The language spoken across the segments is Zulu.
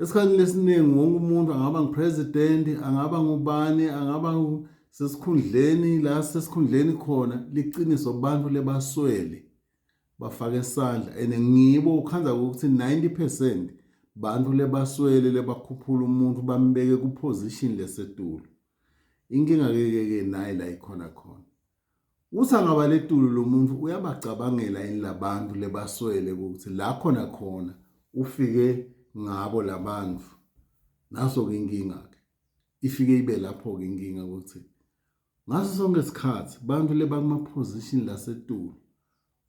esikhathini esiningi wonke umuntu angaba ngu-president angaba ngubani angaba sesikhundleni la sesikhundleni khona liqiniso abantu lebaswele bafake isandla and ngibo ukhanza ukuthi 90 percent bantu lebaswele lebakhuphula umuntu bambeke kuposition lesetulu inkinga ke ke nayi la ikhona khona Uthi angabaletulu lomuntu uyabacabangela yini labantu lebaswele ukuthi la khona khona ufike ngabo labantu naso ke inkinga ke ifike ibe lapho ke inkinga ukuthi ngaso sonke isikhathi bantu lebakuma position lasetulu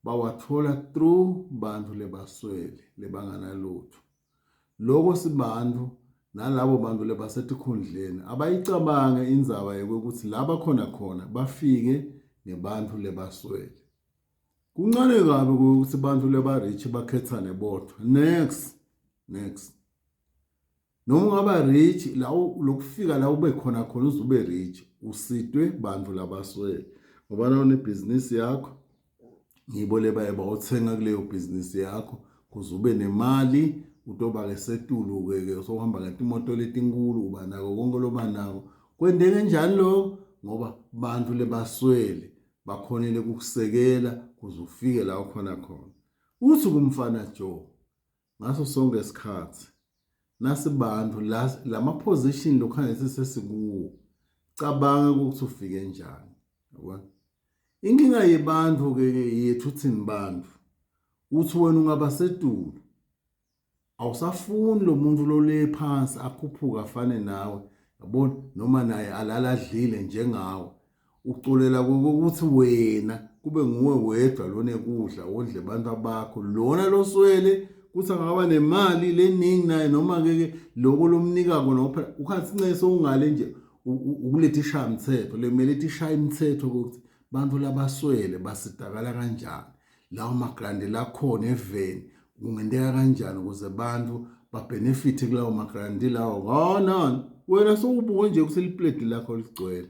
bawathola through bantu lebaswele lebanganalutho lokho sibantu nalabo bantu lebasetikhundleni abayicabange indzaba yokuthi laba khona khona bafike ngebantu lebaswele kuncane kabi ukuthi abantu leba-rich bakhethane bodwa next next noma ungaba rich la lokufika la ube khona khona uze ube rich usitwe bantu labaswele ngoba nawo nebhizinisi yakho ngibo lebayeba othenga kuleyo bhizinisi yakho kuze ube nemali utoba-ke setulu-ke ke sokuhamba kanti imoto letinkulu uba nako konke loba nako kwendeke njani lokho ngoba bantu lebaswele bakhonele kukusekela kuze ufike la ukhona khona uthi kumfana joe ngaso sonke isikhathi nasibantu lama position lokhanye sesikuwo cabanga ukuthi ufike njani yabona inkinga yebantu ke yethu thini bantu uthi wena ungaba sedulo awusafuni lo muntu lole phansi akhuphuka afane nawe yabona noma naye alala adlile njengawe uxolela kokuthi wena kube nguwe wedwa lona ekudla wondle abantu abakho lona loswele kuthi angaba nemali leningi naye noma-ke ke loko lomnikako nophela ukhathi nceke sowungale nje ukuletha ishaya mthetho lemele ithi ishaya imithetho kokuthi bantu labaswele basitakala kanjani lawo magrandi lakhona eveni kungenteka kanjani ukuze abantu babhenefithe kulawo magrandi lawo ngonon wena sowubuke nje ukuthi lipledi lakho ligcwele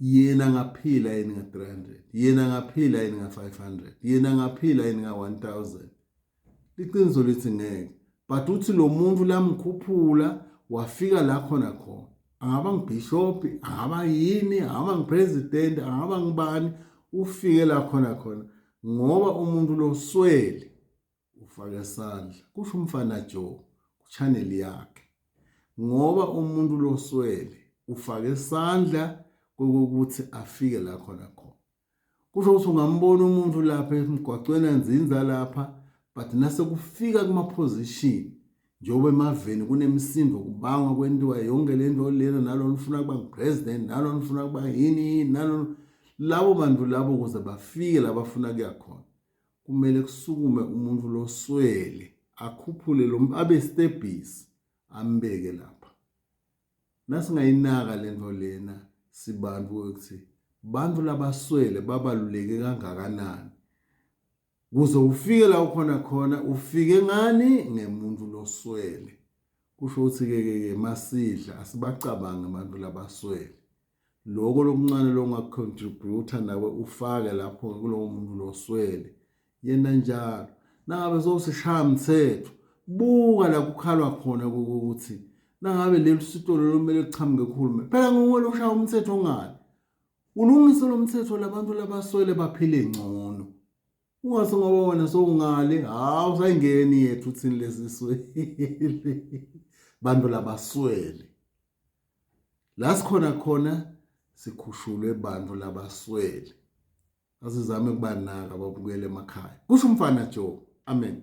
yena ngaphila yini nga 300 yena ngaphila yini nga 500 yena ngaphila yini nga 1000 iqiniso lithi ngeke but uthi lo muntu lamkhuphula wafika la khona khona angaba ngibhishophi angaba yini angaba ngipresident angaba ngibani ufike la khona khona ngoba umuntu loswele ufake isandla kusho umfana Joe kuchannel yakhe ngoba umuntu loswele ufake isandla kokuthi afike la khona khona kusho ukuthi ungambona umuntu lapha emgwaqweni anzinza lapha but nase kufika kuma position njengoba emaveni kunemisindo kubangwa kwentiwa yonke lento lena nalo nifuna kuba president nalo nifuna kuba yini nalo labo bantu labo kuze bafike labafuna kuyakhona kumele kusukume umuntu loswele akhuphule lo abe stebhisi ambeke lapha nasingayinaka lento lena sibantu ukuthi bantu labaswele babaluleke kangakanani kuze ufike la ukhona khona ufike ngani ngemuntu loswele kusho ukuthi ke ke masidla asibacabange abantu labaswele loko lokuncane longacontributor nawe ufake lapho kulowo muntu loswele yena njalo nangabe sowusishaya mthetho buka la kukhalwa khona ukuthi nangabe leli sitolo lomele kuchamuke kuhulumeni phela nguwe loshaya umthetho ongani ulungise lo mthetho labantu labaswele baphile ngcono Ungase ngoba wena sowungale, hawu sayingeni yethu thini lezi swele. Bantu labaswele. La sikhona khona sikhushulwe bantu labaswele. Asizame kubanaka babukele emakhaya. Kusho umfana Joe. Amen.